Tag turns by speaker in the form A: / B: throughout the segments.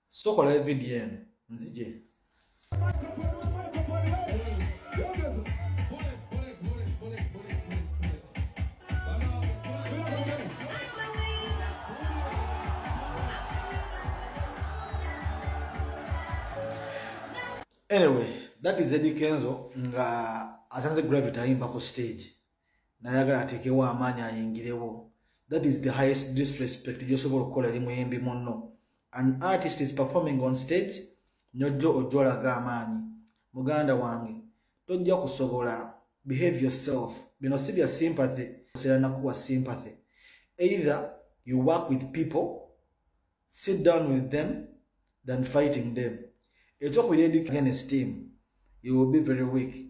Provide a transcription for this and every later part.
A: sokola evidiyo eno nzije anyway that is eddie kenzo nga asanze gravity ayimba ku stage nayagala atekewo amaanyi ayingirewo that is the highest disrespect gyosobola okukola eri muyimbi munno an artist is performing on stage nyojjo ojja olaga amaanyi muganda wange tojja kusobola behave yourself bino si bya sympathy osera nakuwa sympathy either you work with people sit down with them than fighting them ekyokubiri against team you will be very weak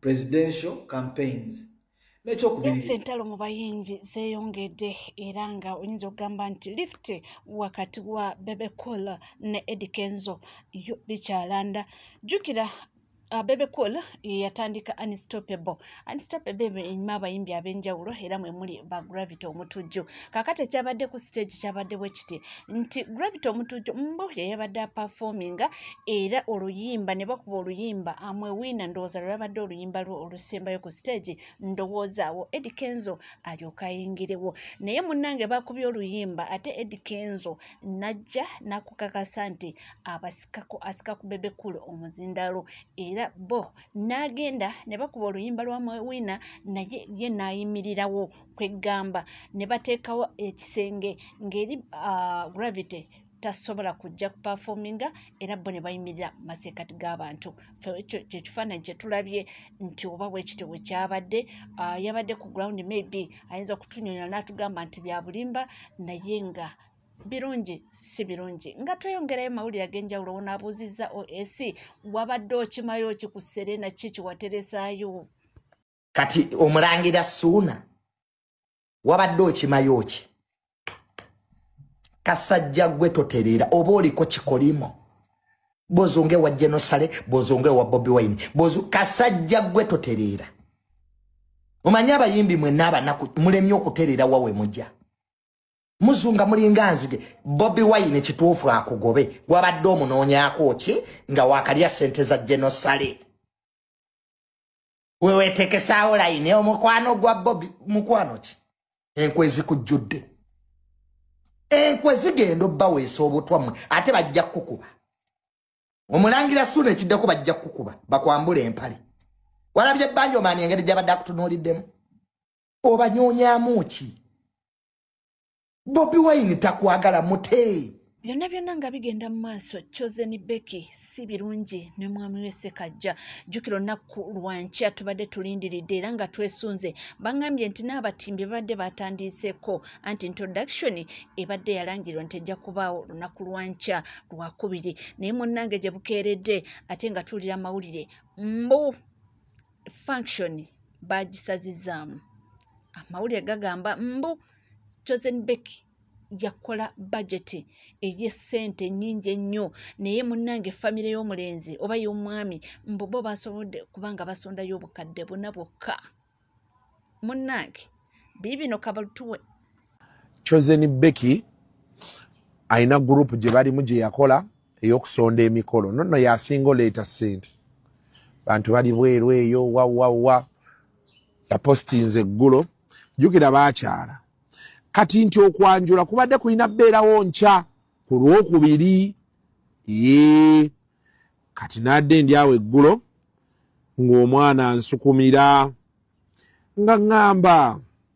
A: presidential campaigns
B: entalo mu bayimbi zeyongedde era nga oyinza okugamba nti lift wakati wa bebecool ne edikenzo bikyalanda jukira Uh, bebe cool yatandika unstoppable unstoppable enyuma abayimbi ab'enjawulo era mwe muli ba gravity omutujju kakati ekyabadde ku stage kyabadde bwe kiti nti gravity omutujo mbo yeyabadde apafominga era oluyimba ne bakuba oluyimba amwewiina ndowooza lwelabadde oluyimba lwo olusembayo ku siteegi ndowoozaawo edi kenzo alyoka ayingirewo naye munnange bakubye oluyimba ate edi kenzo najja nakukakasa nti abasikako asika ku bebekulu omuzindaalo era bo n'agenda ne bakuba oluyimba lwa mwewiina naye ye n'ayimirirawo kweggamba ne bateekawo ekisenge ng'eri ah, gravity tasobola kujja kupafominga era bo ne bayimirira mu maseekati g'abantu ekyo kyekifaananyi kye tulabye nti oba bwekityo bwe kyabadde ah, yabadde ku ground maybe ayinza okutunyonyola n'atugamba nti bya bulimba naye nga birungi si birungi nga tweyongerayo mawulire ag'enjawulo wonaabuuzizza oac wabadde okimayo ki ku serena ki kyewateresaayo kati
C: omulangira suuna wabadde okimayo ki kasajja gwe totereera oba oliko kikolimo bozonga ewa genosale bozonga ewa bobi wine bozu kasajja gwe totereera omanyi abayimbi mwenna abanaku mulemye okutereera wawe mujja muzunga mulinga nzige bobi wine kituufu akugobe wabadde omunoonyako ki nga wakalya sente za genosale wewetekesaawo layini omukwano gwa bobi mukwano ki enkwe zikujjudde enkwe zigenda obbaweesa obutwa mmwe ate bajja kukukuba omulangira suuna ekiddeko bajja kukukuba bakwambula empale walabye ebbanja omaani engeri gyabadde akutunuuliddemu obanyonyamu ki bobi wine takwagala mutee byonna byonna nga
B: bigenda mu maaso chosen becky si birungi ne mwami we sekajja jjukira olunaku lwankya tubadde tulindiridde era nga twesunze bangambye nti n'abatimbi babadde batandiiseeko anti introduction ebadde yalangirwa nti ejja kubaawo olunaku lwankya lwakubiri naye munnange gye bukeeredde ate nga tuwulira amawulire mbu function bagisazizaamu amawulire gagamba mbu chosen becky yakola bajeti ey'essente nnyingi ennyo naye munnange famire y'omulenzi oba y'omwami mbu bo basobodde kubanga basondayo obukadde buna bwokka munnange biibino kabaltuwe
D: chosen becky alina gurupu gye balimu gye yakola eyokusonda emikolo nono yasinga oleeta sente bantu bali bweru eyo wawawa yapostinze eggulo jukira bakyala kati nti okwanjula kubadde kulina beerawo nkya ku lwokubiri ye kati nadde ndi awo eggulo ng'omwana nsukumira nga ŋŋamba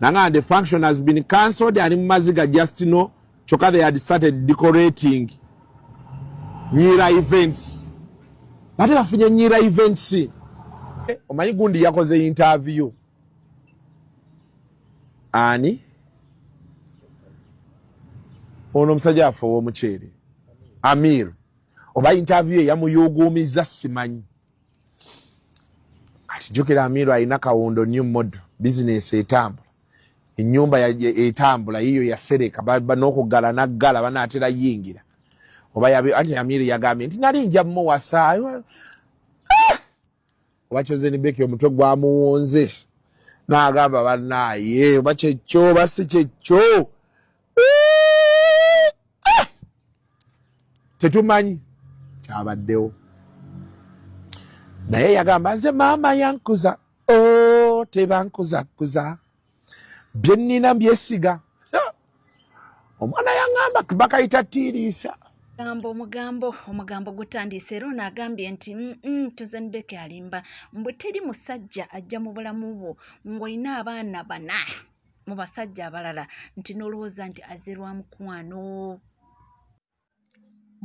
D: nanga the function has been cancelled ali mumaziga just know kyoka they had started decorating nyira events bate bafunye nyira events eh, omanyi gundi yakoze interview ani ono omusajja affe owomuceere amir oba interview eyamuyuguumizza simanyi kati jukira amiiro alina kawundo new model bizinesi etambula enyumba etambula yiyo yasereka nokugala naggala banaatera yingira oba anti amiiro yagambye nti nali nja muwasa ah! oba kyozenibeki omutwe gwamuwunze nagamba banaye oba kyekyo oba si kyekyo tetumanyi kyabaddewo naye yagamba nze maama yankuza o oh, tebankuzakuza byenina byesiga omwana yangamba bakayita tiiriisa gambo omugambo
B: omugambo gutandiise era ono agambye nti mm, mm, tuzenbeke alimba mbu teri musajja ajja mu bulamu bwo ng'olina abaana bana mu basajja abalala nti n'olowooza nti azze lwa mukwano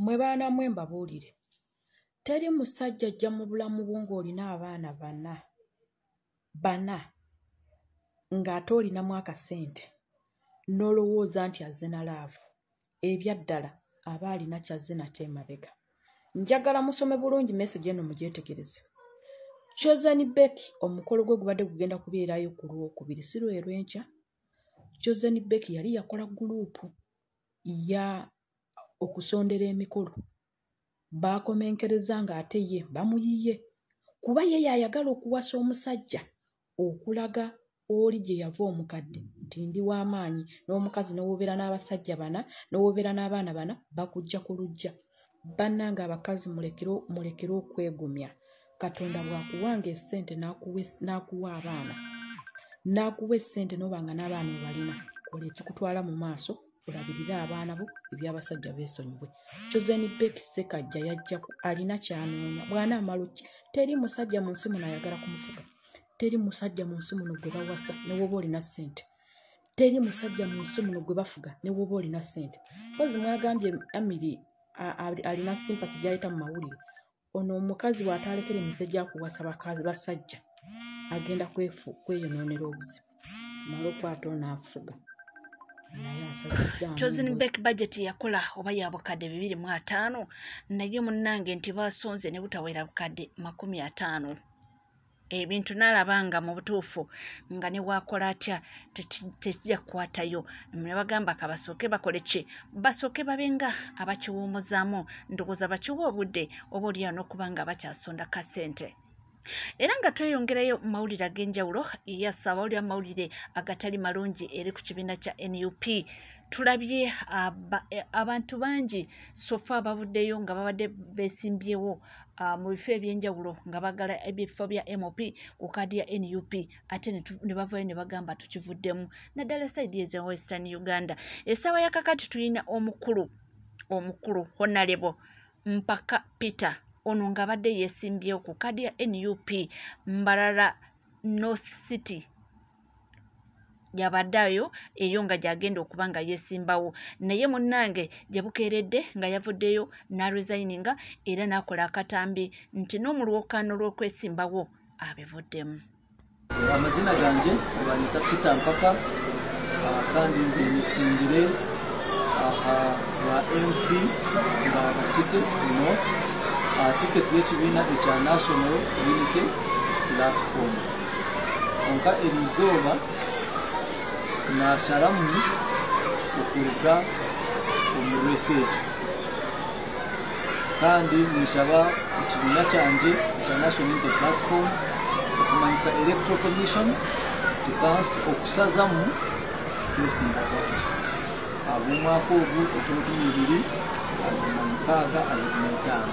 E: mwe baana mwe mbabuulire teri musajja ajja mu bulamu bwo ng'olina abaana bana bana ng'ate olinamu akasente n'olowooza nti azze na laavu ebyaddala aba alina kyazze nate emabega njagala musome bulungi message eno mugyetegereze chosen beck omukolo gwe gubadde gugenda kubeerayo ku lwokubiri si lwerwenkya chosen beck yali yakola guluupu ya okusondera emikolo baakomenkereza ng'ate ye bamuyiye kuba ye yayagala okuwasa omusajja okulaga oli gye yava omukadde nti ndi w'amaanyi n'omukazi n'owobeera n'abasajja bana n'owobeera n'abaana bana bakujja ku lujja bannanga abakazi mulekere okwegumya katonda bwakuwanga esente n'akuwa abaana n'akuwa esente n'obanga n'abaana obalina kola ekikutwala mu maaso olabirire abaana bo ebyabasajja besonyiwe chosen bek sekajja yajjaku alina kyanoonya bwana amaluki teri musajja mu nsi muno ayagala kumufuga teri musajja mu nsi muno gwe bawasa newoba olina sente teri musajja mu nsi muno gwe bafuga newoba olina sente kozi mwagambye amiri alina simpasi gyaleeta mu mawulire ono omukazi wataalekere mize gyakuwasa bakazi basajja agenda kweyonoonera obuzibu mala okwata onaafuga
B: chosen back budget yakola oba ya bukadde bibiri mu ataano naye munnange nti baasonze ne butawera bukadde makumi ataano ebintu nalaba nga mu butuufu nga ne waakola atya tekijja kukwatayo ne bagamba ka basooke bakole ki basooke babe nga abakiwuumuzaamu ndowooza bakiwa obudde oba olyawo n'okuba nga bakyasonda ka ssente era nga tweyongerayo mu mawulire ag'enjawulo yasaba oli amawulire agatali malungi eri ku kibiina kya nup tulabye eh, abantu bangi sofa abavuddeyo nga babadde besimbyewo uh, mu bifo ebyenjawulo nga bagala ebifo bya mop ku kaadi ya nup ate ne bavayo ne bagamba tukivuddemu naddala saidi eza western uganda essaawa yakakati tulina omukulu omukulu honalebo mpaka peter ono ng'abadde yeesimbyewo ku kaadi ya nup mbarara north city yabadde ayo eyo nga gyagenda okuba nga yesimbawo naye munnange gye bukeeredde nga yavuddeyo n'aresigninga era n'akola akatambi nti n'omulwokaano lw'okwesimbawo abivuddemu
F: amazina gange banyita peter mpaka ah, kandi ngenisimbire aha ya mp nga basite north ah, tiketi y'ekibiina ekya national unity platform onka erizooba nasharamu okuruga omu research kandi ninshaba ekibiina kyangye ekya national inter platform okumanyisa electoral commission tukansi okusazamu kwesimba kwaki ab'omwaka ogu eky'olukumi bibiri abiri na mukaaga abiri n'etaano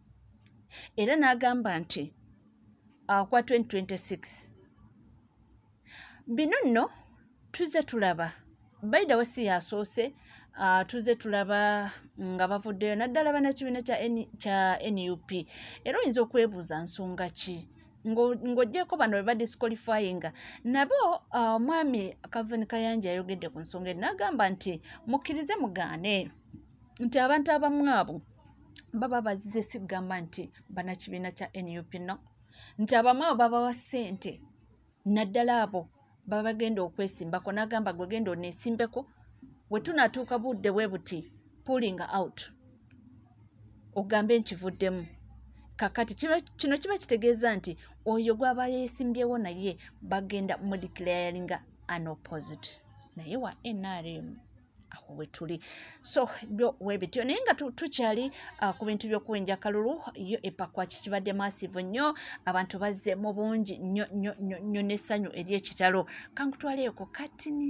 B: era n'agamba nti akwa 2026 bino nno tuze tulaba baidawe si yasoose uh, tuze tulaba nga bavuddeyo naddala banakibiina kya nup era oyinza okwebuuza nsonga ki ng'ogyeko bano beba disqualifyinga nabo ah, omwami uh, kavin kayanja ayogedde ku nsonga eri nagamba nti mukkirize mugaane nti abantu abamu abo baba bazize si kugamba nti banakibiina kya nup no nti abamu abo babawa ssente naddala abo baba bagenda okwesimbako nagamba gwe genda onesimbeko wetunatuuka budde bwe buti pulling out ogambe nkivuddemu kakati kino kiba kitegeeza nti oyo gwaba yesimbyewo naye bagenda mudiclaringa an opposite naye wa nrm wetuli so byo webityo naye nga tukyali uh, ku bintu by'okuwenja kalulu yo epakwa kikibadde massive nnyo abantu bazze mu bungi nnyo nnyo nnyo n'essanyu ery'ekitalo kankutwaleeko katini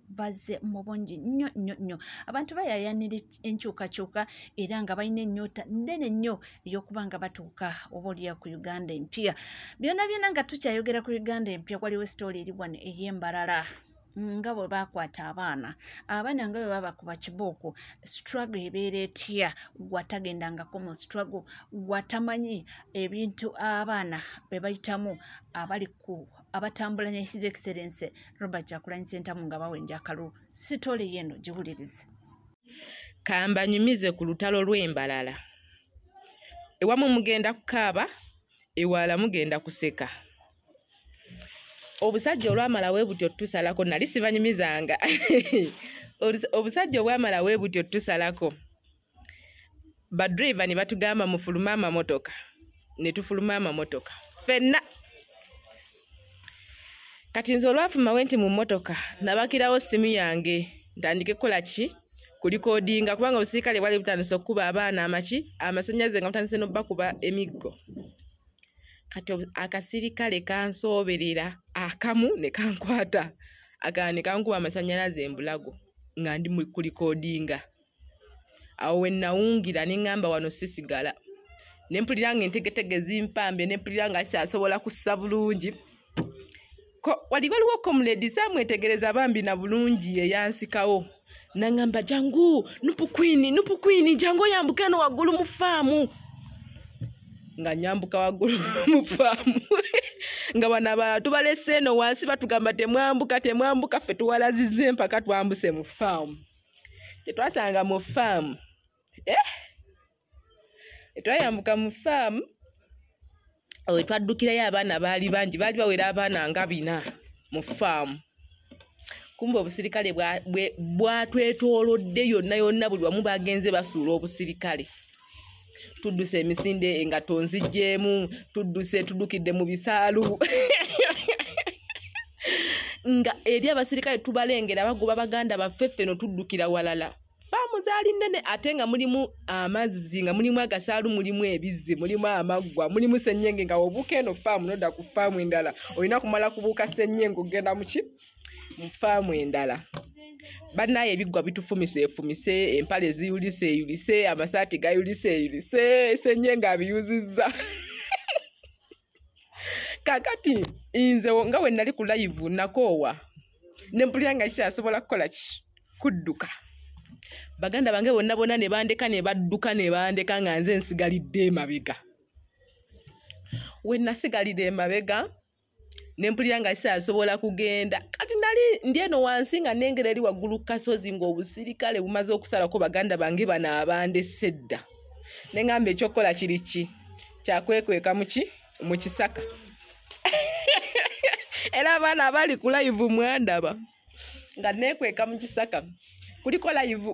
B: bazze mu bungi nnyo nnyo nnyo abantu bayayanira enkyukakyuka era nga balina ennyota nnene nnyo ey'okuba nga batuuka oba oliya ku uganda empya byona byona nga tukyayogera ku uganda empya waliwo esitooli eri wano ey'embalala nga bwe bakwata abaana abaana nga bwe baba kuba kibooko struggle ebeera etya gwatagendangako mu struggle gwatamanyi ebintu abaana bwe bayitamu abali ku ku abatambula ne his excellence robert kyakulanyi sentamu nga bawenja akalulu sitole yeno giwulirize kambanyumize
G: ku lutalo lw'embalala ewamu mugenda kukaaba ewala mugenda kuseka obusajja olwamala we butyo tusalako nali sibanyumizanga obusajja obwamala we butyo tusalako badriva ne batugamba mufulume amamotoka ne tufuluma amamotoka fenna kati nze olwafumawe nti mu mmotoka nabakirawo simu yange ntandike kukola ki kulikodinga kubanga obusirikale bwali butandise okukuba abaana amaki amasanyaze nga butandise nobakuba emiggo kati akasirikale kansooberera akamu ne kankwata agaa ne kankuba amasanyalaze embulago nga ndi kulikodinga awo wenawungira neŋamba wano sisigala nempulira nga entegetege zimpambye nempulira nga kyasobola kussa bulungi wali waliwo komuledi samwetegereza bambi na bulungi eyansikawo naŋamba jangu nupukwini nupukwini jangu oyambuke no waggulu mu faamu nga nyambuka waggulu mu faamu nga bano abalala tubalese eno wansi batugamba temwambuka temwambuka ffe tuwalazize mpaka twambuse mu faamu tetwasanga mu faamu eh? twayambuka mu faamu owe twaddukirayo abaana baali bangi baali bawera abaana nga bina mu faamu kumba obusirikale bwatwetoolodde yonna yonna buli wamu bagenze basuula obusirikale bwa, tudduse emisinde nga tonzijjeemu tudduse tuddukidde mu bisaalu nga eri abasirikale tubalengera bagoba baganda baffe ffe no tuddukira walala faamu zaali nnene ate nga mulimu amazzi nga mulimu agasaalu mulimu ebizzi mulimu amaggwa mulimu sennyenge nga obuuka eno faamu nodda ku faamu endala olina kumala kubuuka sennyenge okugenda muki mu faamu endala bannaye ebiggwa bitufumisa efumise empale ziyulise eyulise amasaati gayulise eyulise senye ng'abiyuzizza kakati nze nga we nali ku layivu nakoowa ne mpulira nga kikyasobola kukola ki kudduka baganda bange bonna bona ne bandeka ne badduka ne bandeka nga nze nsigalidde emabega we nasigalira emabega ne mpulira nga sisasobola kugenda kati nali ndi eno wansi nga nengera eri waggulu ku kasozi ng'obusirikale bumaze okusalako baganda bange bano abandese dda ne ŋamba ekyokukola kiri ki kyakwekweka muki mu kisaka era abaana abali ku layivu mwandaba nga nekweka mu kisaka kuliko layivu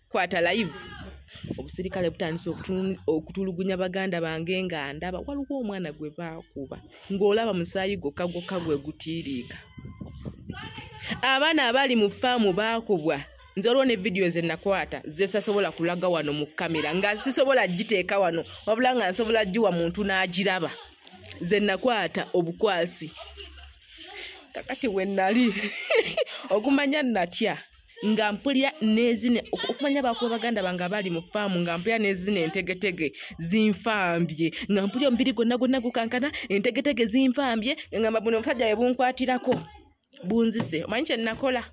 G: kwata live obusirikale butandise okutulugunya baganda bange nga ndaba waliwo omwana gwe baakuba ng'olaba musaayi gwokka gwokka gwe gutiiriika abaana abali mu faamu baakubwa nze olwo ne vidiyo ze nakwata zesasobola kulaga wano mu kamera nga sisobola giteeka wano wabula nga nsobola giwa muntu n'agiraba ze nakwata obukwasi kakati we nali okumanya natya nga mpulira nezine okumanya bakuba baganda bange abali mu faamu nga mpulira nezine entegetege zinfambye nga mpulira omubiri gwonna gwonna gukankana entegetege zinfambye ngamba buno omusajja we bunkwatirako bunzise omanyi kye nakola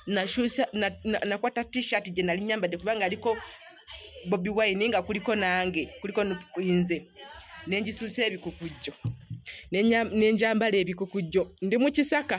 G: nashusha nakwata na, na t-shirt gye nali nyambadde kubanga aliko bobi wine nga kuliko nange kuliko nze nenjisusa ebikukujjo nenjambala ebikukujjo ndi mu kisaka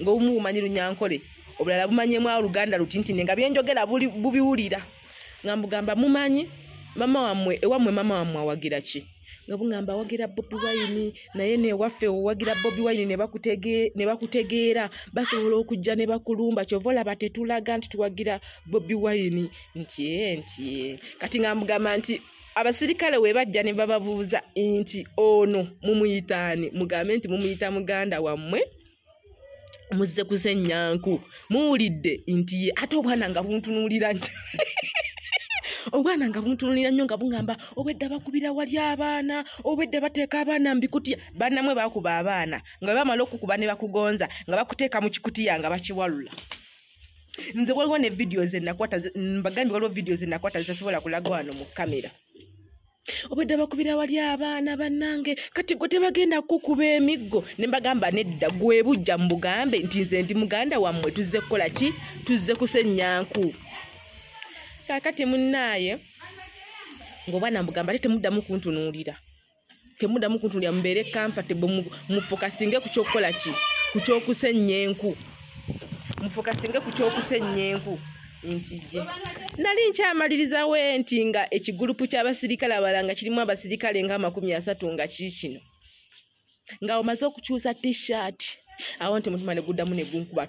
G: ng'obumu bumanyi lunyankole obulala bumanyemu awo luganda lutintine nga byenjogera bubiwulira nga mbugamba mumanyi mama wamwe ewamwe mama wamwe awagira ki nga bungamba awagira bobi wayini naye newaffe owagira bobi wayini ne bakutegeera basobola okujja ne bakulumba kyova olaba tetulaga nti tuwagira bobi wayini nti nti kati nga mbugamba nti abasirikale we bajja ne bababuuza nti ono mumuyitaani mugambe nti mumuyita muganda wammwe muzze kusenyanku muwulidde nti ye ate obwana nga buntunuulira nti obwana nga buntunulira nnyo nga bungamba obwedda bakubira wali abaana obwedda bateeka abaana mbikutiya banamwe bakuba abaana nga bamala okukuba ne bakugonza nga bakuteeka mu kikutiya nga bakiwalula nze waliwo ne vidiyo zenakwata mbagambye waliwo vidiyo zenakwata zitasobola kulaga wano mu kamera obwedda bakubira wali abaana bannange kati gwe tebagenda kukuba emiggo ne mbagamba nedda gwe bujja mu bugambe nti nze ndi muganda wammwe tuzze kukola ki tuzze kusenyanku kakati munnaaye ngaobwana mbugamba ate temuddamu kuntunuulira temudamu kuntulira mubeere comfortable mufokasinge ku kyokukola ki ku kyokusennya enku mufokasinge ku kyokusennya enku ntije nali nkyamaliriza we nti nga ekigulupu ky'abasirikale abala nga kirimu abasirikale nga amakumi asatu nga kiikino nga omaze okukyusa t-shirt awo nti mutima ne guddamu ne gunkuba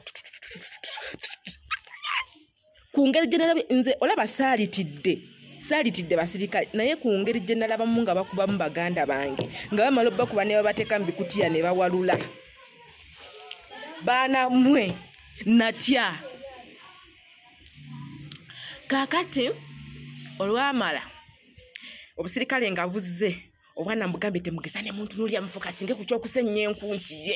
G: ku ngeri gye nalabye nze olaba saalitidde saalitidde basirikale naye ku ngeri gye nalabamu nga bakubamu baganda bange nga bamala obakuba ne babateeka mu bikutiya ne bawalula baana mwe natya kaakati olwamala obusirikale nga buzze obwana mbugambye temugeza ne muntu nulya mufuka singe ku kyokusenya enkunti ye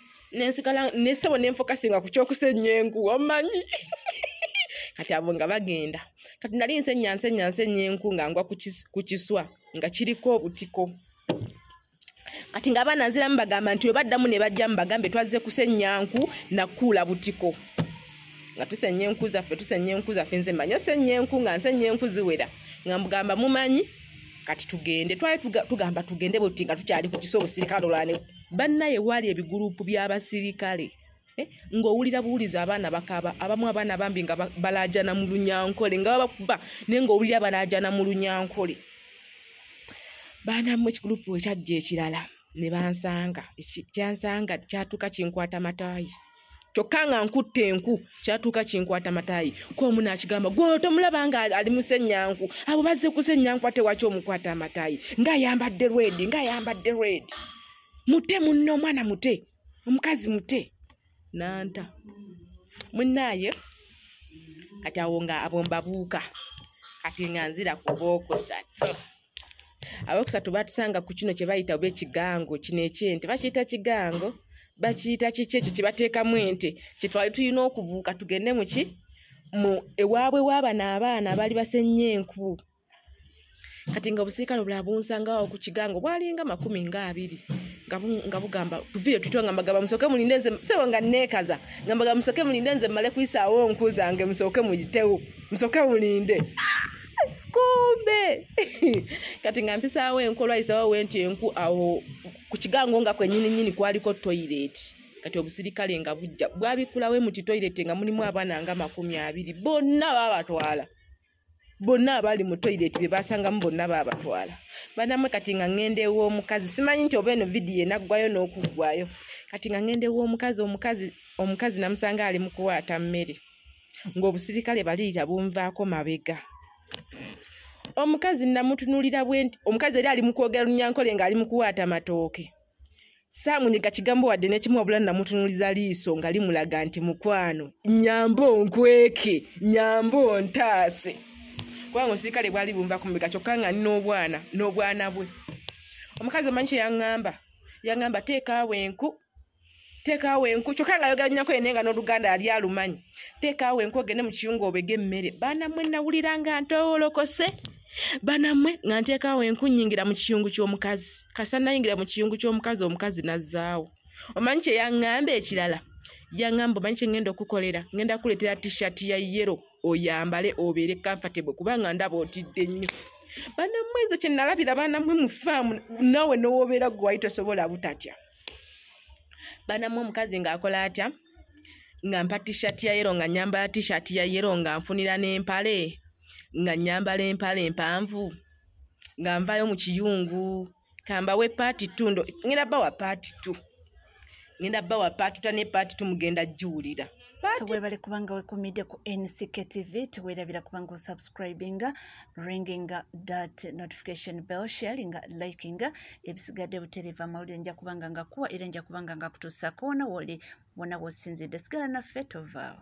G: nensigala nesebo nenfokasinga ku kyokusenya enku omanyi kati abo nga bagenda kati nali nsenya nsenya nsenya enku nga ngwa ku kiswa nga kiriko obutiko kati nga abaana nziramu bagamba nti webaddamu ne bajjamu bagambe twazze kusenya nku nakuula butiko nga tusenya enku zaffe tusenya enku zaffe nze manyi osenya enku nga nsenya enku ziwera nga mugamba mumanyi kati tugende twali tugamba tugende buti nga tukyali ku kiso obusirikale olwane bannaye waali ebiguruupu by'abasirikale eh, ng'owulira buwuliza abaana bakaba abamu abaana bambi nga balaajana mu lunyankole nga babakuba naye ng'owulira balaajana mu lunyankole baanamu ekiguruupu ekyajja ekirala ne bansanga kyansanga kyatuuka kinkwata mataayi kyokka nga nkutte enku kyatuuka kinkwata mataayi kwomu nakigamba gwono tomulaba nga ali musenyanku abo bazze kusenyanku ate waki omukwata amataayi ngaayambadde redi ngaayambadde redi mute munne omwana mute omukazi mute nanta munaaye kati awo nga abombabuuka kati nga nzira kuba okusatu abakusatu batusanga ku kino kyebayita oba ekigango kino ekyente bakiyita kigango bakiyita kiki ekyo kyebateekamu ente kyetwali tulina okubuuka tugende muki mu ewaabwe waabano abaana abaali basennya enku kati nga obusirikale obulala bunsangawo ku kigango bwalinga makumi nga abiri nga bugamba tuviire tutyo nga mbagamba musooke mulinde nze sebo nga neekaza nga mbagamba musooke mulinde nze mmale kuyisaawo nku zange musooke muyitewo musooke mulinde kumbe kati nga mpisaawo enkolwa yisawo we nti enku awo ku kigango nga kwenyini nyini kwaliko toyireti kati obusirikale nga bujja bwabikulawo emuti toyireti nga mulimu abaana nga makumi abiri bonna babatwala bonna abaali mu toyireti be basangamu bonna baabatwala banamwe kati nga ŋŋenda ew'omukazi simanyi nti oba eno vidiyo enaggwayo n'okuggwayo kati nga ŋŋenda ew'omukazi omukazi omukazi namusanga ali mu kuwaata mmere ng'obusirikale baliira bunvaako mabega omukazi namutunulira bwe nti omukazi eri ali mu kwogera lunyankole ng'ali mu kuwaata matooke saamunyiga kigambo wadde nekimu wabula namutunuliza liiso nga limulaga nti mukwano nyambo nkweke nyambo ntaase kubanga omusirikale bwali bunva ku mabega kyokka nga n'obwana n'obwana bwe omukazi omanyi kye yaŋŋamba yaŋŋamba teekaawo enku teekaawo enku kyokka nga ayogera nyako yene nga n'oluganda yali alumanyi teekaawo enku ogende mu kiyungu obege emmere banamwe nawulira nga ntowolokose banamwe nga nteekaawo enku nyingira mu kiyungu ky'omukazi kasa nayingira mu kiyungu ky'omukazi omukazi nazzaawo omanyi kye yaŋŋamba ekirala yaŋŋamba omanyi kye ŋŋenda okukolera ŋŋenda kuleetera tishati ya yero oyambale obeere kamfatebwe kubanga ndaba otidde nnyo banamwe nze kye nalabira banamwe mu faamu nawe n'owobeera gwe wali tosobola butatya banamwe omukazi ng'akola atya nga mpa t-shirt ya yero nga nyambala t-shirt ya yero nga nfunira n'empale nga nyambala empale mpanvu nga nvayo mu kiyungu kambawe paati t ngenda bawa paati t ngenda bawa paatuta ne paati t mugenda giwulira tuwebale
B: kubanga wekumidde ku nck tv tuwerabira kubanga osubscribinga ringinga dat notification bell sharinga likinga ebisigadde butereeva amawulire nja kubanga nga kuwa era nja kubanga nga kutuusa koona woli wona wosinzidde sigala naffe tovaawo